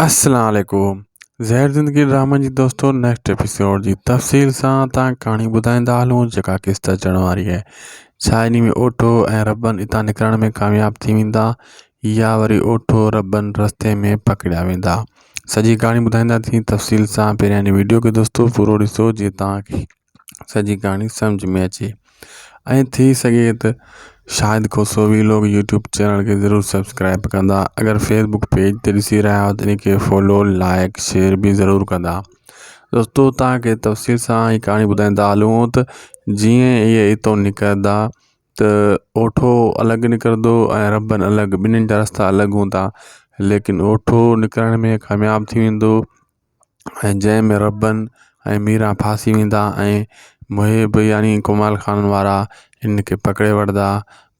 السلام عليڪم زهر زندگي ڊرامن جي دوستو نيڪسٽ ايپيسوڊ جي تفصيل سان تان ڪهاڻي ٻڌائيندا هلون جيڪا قسط اچڻ واري آهي ڇا اني ۾ اوٺو ۽ ربن اتان نڪرڻ ۾ ڪامياب ٿي ويندا يا وري اوٺو ربن رستي ۾ پڪڙيا ويندا سڄي ڪهاڻي ٻڌائيندا ٿي تفصيل سان پهريان اني ويڊيو کي دوستو پورو ڏسو جي تان سڄي ڪهاڻي سمجھ ۾ اچي ۽ ٿي سگهي ته شايد ڪو سوڀي لوگ يوٽيوب چينل کي ضرور سبسڪرائب ڪندا اگر فيسبڪ پيج تي ڏسي رهيا آهيو ته ان کي فالو لائڪ شيئر به ضرور ڪندا دوستو تان کي تفصيل سان هي ڪهاڻي ٻڌائيندا هلون ته جيئن اهي اتو نڪردا ته اوٺو الڳ نڪردو ۽ ربن الڳ ٻنهين جا رستا الڳ هوندا ليڪن اوٺو نڪرڻ ۾ ڪامياب ٿي ويندو ۽ جنهن ۾ ربن ۽ ميران ڦاسي ويندا ۽ محب يعني ڪمال خانن وارا هن کي پڪڙي وٺندا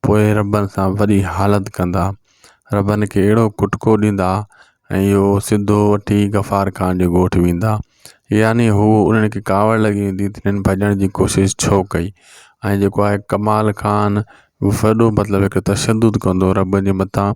پوء ربن سان وڏي حالت ڪندا ربن کي اهڙو ڪٽڪو ڏيندا ۽ اهو سڌو وٺي غفار خان جي ڳوٺ ويندا يعني هو انهن کي ڪاوڙ لڳي ويندي ته هنن ڀڄڻ جي ڪوشش ڇو ڪئي ۽ جيڪو آهي ڪمال خان وڏو مطلب هڪ تشدد ڪندو ربن جي مٿان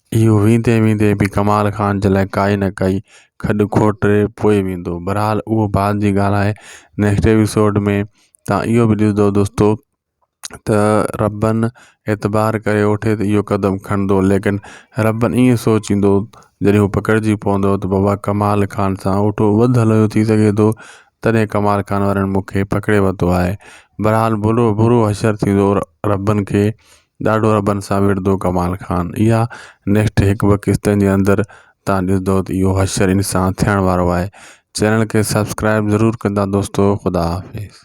اهو ويندي ويندي به ڪمال خان جي لاء ڪائي نه ڪائي کڏ کوٽي پوء ويندو بهرحال اهو بعد جي ڳالهه آهي نيڪسٽ ايپيسوڊ ۾ تان اهو به ڏسندو دوستو ته ربن اعتبار ڪري اوٺي ته اهو قدم کڻندو ليڪن ربن ائين سوچيندو جڏهن هو پڪڙجي پوندو ته بابا ڪمال خان سان اوٺو وڌ هليو ٿي سگهي ٿو تڏهن ڪمال خان وارن مون کي پڪڙي ورتو آهي بهرحال برو برو حشر ٿيندو ربن کي ڏاڍو ربن سان وڙهندو ڪمال خان اها نيڪسٽ هڪ ٻه قسطن جي اندر تان ڏسندو ته اهو حشر انسان ٿيڻ وارو آهي چينل کي سبسڪرائب ضرور ڪندا دوستو خدا حافظ